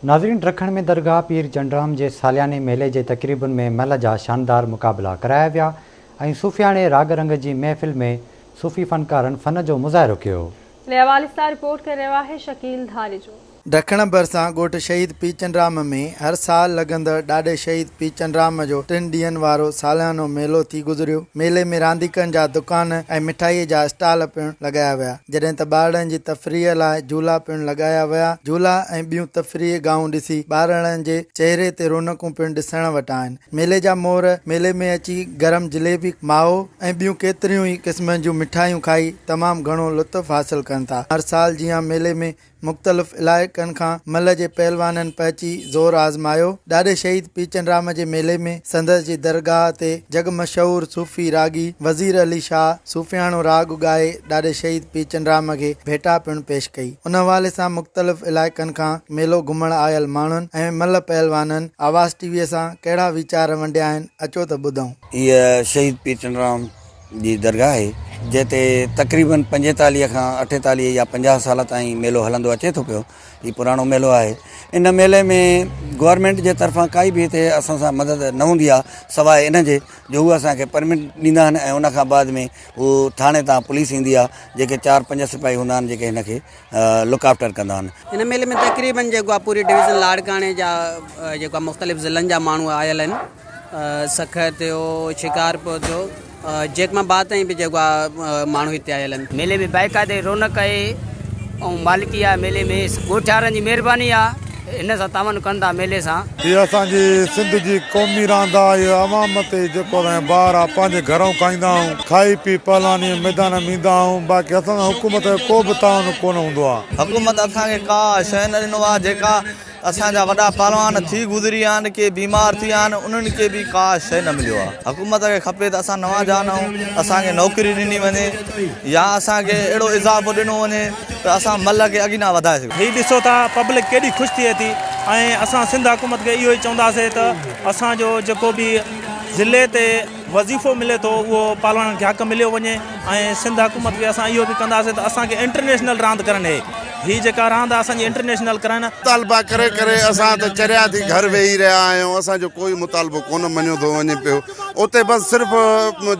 ناظرين ڊرکڻ ۾ درگاهه پير چنڊرام جي سالياني ميلي جي تقريبن ۾ مهل جا شاندار مقابلا ڪرايا ويا ۽ صوفياڻي راڳ رنگ جي محفل ۾ صوفي فنڪارن فن جو مظاهرو ڪيو. جي حوالي سان رپورٽ ڪري رهيو آهي شڪيل ڌاريجو. ڊکڻ ڀرسان ڳوٺ شهيد پير چنڊرام ۾ هر سال لڳندڙ ڏاڏي شهيد پير چنڊرام جو ٽن ڏينهن وارو ساليانو ميلو ٿي گذريو، ميلي ۾ رانديڪن جا دڪان ۽ مٺائي جا اسٽال پڻ لڳايا ويا. جڏهن ته ٻارڙن جي تفريح لاء جهولا پڻ لڳايا ويا. جهولا ۽ ٻيون تفريحي گاهون ڏسي ٻارڙن جي چهري تي رونقون پڻ ڏسڻ وٽان آهن. ميلي جا مور ميلي ۾ اچي گرم جليبي، مائو ۽ ٻيون ڪيتريون ئي قسمن جون مٺايون کائي تمام گهڻو لطف حاصل ڪن ٿا. هر سال جيان ميلي ۾ مختلف علائقن کان ملهه جي پهلوانن پهچي زور آزمايو. ڏاڏي شهيد پيچن رام جي ميلي ۾ سندس جي درگاهه تي جڳ مشهور صوفي راڳي وزير علي شاهه صوفياڻو راڳ ڳائي ڏاڏي شهيد پيچن رام کي ڀيٽا پڻ پيش ڪئي. ان حوالي سان مختلف علائقن کان ميلو گهمڻ آيل ماڻهن ۽ ملهه پهلوانن آواز ٽي ويء سان ڪهڙا ويچار ونڊيا آهن اچو ته ٻڌون. هيء شهيد پيچن رام جي درگاهه آهي جنهن تي تقريباً پنجيتاليهه کان اٺيتاليهه يا پنجاهه سال تائين ميلو هلندو اچي ٿو پيو هي پراڻو ميلو آهي ان ميلي ۾ گورمينٽ جي طرفان ڪائي به هتي اسان سان مدد نه هوندي آهي سواء ان جي جو هو اسان کي پرمٽ ڏيندا آهن ۽ ان کان بعد ۾ هو ٿاڻي تان پوليس ايندي آهي جيڪي چار پنج سپاهي هوندا آهن جيڪي هن کي لڪ آفٽر ڪندا آهن. هن ميلي ۾ تقريبن جيڪو آهي پوري ڊويزن لاڙڪاڻي جا جيڪو آهي مختلف ضلعن جا ماڻهو آيل آهن سکر ٿيو شڪارپور ٿيو جيڪ مان بعد تائين به جيڪو آهي ماڻهو هتي آيل آهن. ميلي ۾ بائقاعدي رونق آهي ۽ مالڪي آهي ميلي ۾ ڳوٺ وارن جي مهرباني آهي. هن سان تعاون ڪن ٿا ميلي سان. هي اسان جي سنڌ جي قومي راند آ هي عوام تي جيڪو اسان جي بار آ پنهنجي گهرئون کائيندا آهيون کائي پي پهلواني جي ميدان ۾ ايندا آهيون باقي اسان سان حڪومت جو ڪو به تعاون ڪونه هوندو آ. حڪومت اسان کي ڪا شئي نه ڏنو آ جيڪا اسان جا وڏا پهلوان ٿي گذريا آهن ڪي بيمار ٿي ويا آهن انهن کي به ڪا شئي نه مليو آ حڪومت کي کپي ته اسان نوان جان آهيون اسان کي نوڪري ڏني وڃي يا اسان کي اهڙو اضافو ڏنو وڃي ته اسان ملهه کي اڳينا وڌائي سگهون. هي ڏسو ته پبلڪ ڪيڏي خوش ٿئي ٿي ۽ اسان سنڌ حڪومت کي اهو ئي چونداسين ته اسان جو جيڪو به ضلعي تي وظيفو ملي ٿو اهو پالوڻن کي حق مليو وڃي ۽ سنڌ حڪومت کي اسان اهو به ڪنداسين ته اسان کي انٽرنيشنل راند ڪرڻ ڏي هي جيڪا راند آهي اسان جي انٽرنيشنل ڪرائين. مطالبا ڪري ڪري اسان ته چريا ٿي گهر ويهي رهيا آهيون اسان جو ڪوئي مطالبو ڪونه مڃيو ٿو وڃي پيو. اتي بس صرف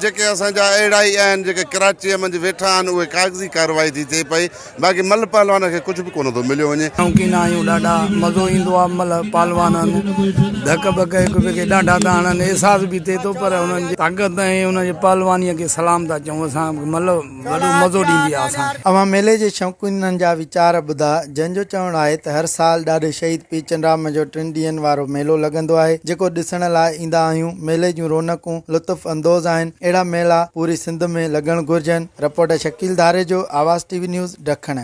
جيڪي اسان جا اهڙا ئي آهن جيڪي ڪراچيء منجهه ويٺا آهن اهي ڪاغذي ڪارروائي ٿي ٿئي پئي باقي مل پهلوان کي ڪجهه به ڪونه ٿو مليو وڃي. شوقين آهيون ڏاڍا مزو ايندو آهي مل پهلوانن ڌڪ ٻڪ هڪ ٻئي کي ڏانڍا ٿا هڻن احساس به ٿئي ٿو پر انهن جي طاقت ۽ انهن جي پهلواني کي سلام ٿا چئون اسان مل. وڏو مزو ڏيندي آهي اسان کي. اوهان ميلي جي شوقينن جا ويچار ٻڌا جنهن جو چوڻ آهي ته هر سال ڏاڏي شهيد پير چنڊرام جو ٽن ڏينهن وارو ميلو لڳندو آهي جيڪو ڏسڻ لاء ايندا آهيون ميلي جون رونقون لطف اندوز آهن اهڙا ميلا پوري سنڌ ۾ لڳڻ گهرجن report Shakeel Dharejo Awaz T V news ڊکڻ.